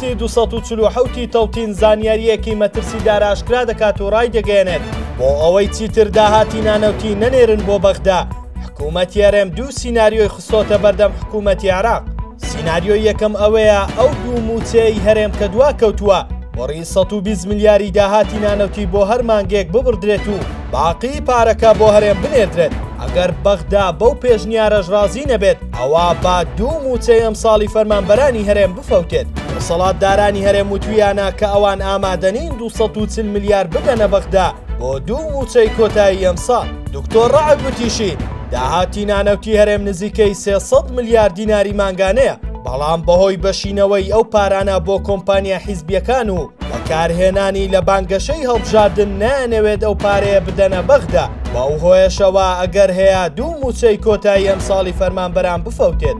تی دوو سەد و چل و حەوت ی تۆتین زانیارییەکی مەترسیدار ئاشکرا دەکات و ڕایدەگەیەنێت، بۆ ئەوەی چیتر داهاتی نانەوتی نەنێرن بۆ بەغدا، حکومەتی هەرێم دوو سیناریۆی خستۆتە بەردەم حکومەتی عێراق، سیناریۆی یەکەم ئەوەیە ئەو دوو مووچەیەی هەرێم کە دواکەوتووە بڕی سەد و بیست ملیاری داهاتی نانەوتی بۆ هەر مانگێک ببڕدرێت و باقیی پارەکە بۆ هەرێم بنێردرێت، ئەگەر بەغدا بەو پێشنیارەش ڕازی نەبێت ئەوا با دوو مووچەی ئەمساڵی فەرمانبەرانی هەرێم بفەوتێت، دەسەڵاتدارانی هەرێم وتوویانە کە ئەوان ئامادەنین دوو سەد و چل ملیار بدەنە بەغدا بۆ دوو مووچەی کۆتایی ئەمساڵ. دکتۆر رەعد وتیشی، داهاتی نانەوتی هەرێم نزیکەی سێ سەد ملیار دیناری مانگانەیە، بەڵام بەهۆی بەشینەوەی ئەو پارانە بۆ کۆمپانیا حیزبییەکان و بەکارهێنانی لە بانگەشەی هەڵبژاردن نایانەوێت ئەو پارەیە بدەنە بەغدا، بەو هۆیەشەوە ئەگەر هەیە دوو مووچەی کۆتایی ئەمساڵی فەرمانبەران بفەوتێت.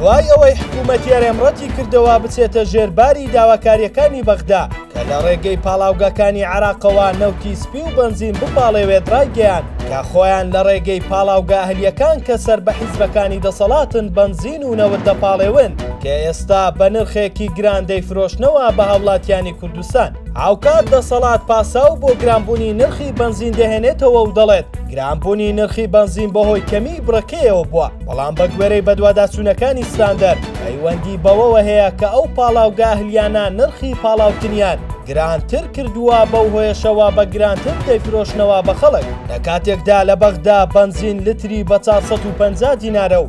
دوای ئەوەی حکوومەتی هەرێم ڕەتی کردەوە بچێتە ژێر باری داواکارییەکانی بەغدا کە لە ڕێگەی پاڵاوگەکانی عێراقەوە نەوتی سپی و بەنزین بپاڵێوێت ڕایگەیاند کە خۆیان لە ڕێگەی پاڵاوگە ئەهلییەکان کە سەر بە حیزبەکانی دەسەڵاتن بەنزین و نەوت دەپاڵێون. کە ئێستا بە نرخێکی گران دەیفرۆشنەوە بە هاوڵاتیانی کوردستان هاوکات دەسەڵات پاساو بۆ گرانبوونی نرخی بەنزین دەهێنێتەوە و دەڵێت گرانبوونی نرخی بەنزین بەهۆی کەمی بڕەکەیەوە بووە بەڵام بە گوێرەی بەدواداچوونەکانی ستاندەر پەیوەندی بەوەوە هەیە کە ئەو پاڵاوگە ئەهلیانە نرخی پاڵاوتنیان گرانتر کردووە بەو هۆیەشەوە بە گرانتر دەیفرۆشنەوە بە خەڵک لە کاتێکدا لە بەغدا بەنزین لتری بە 450 دینارە و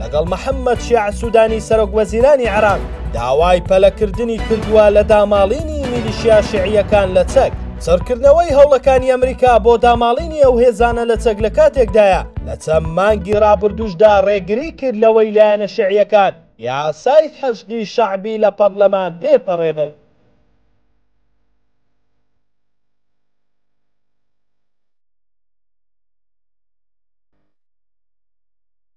لەگەڵ محەممەد شیاع سوودانی سەرۆک وەزیرانی عێراق داوای پەلەکردنی کردووە لە داماڵینی میلیشیا شیعییەکان لە چەک. چڕکردنەوەی هەوڵەکانی ئەمریکا بۆ داماڵینی ئەو هێزانە لە چەک لە کاتێکدایە لە چەند مانگی ڕابردووشدا ڕێگری کرد لەوەی لایەنە شیعییەکان یاسای حەشدی شەعبی لە پەڕلەمان تێپەڕێنن.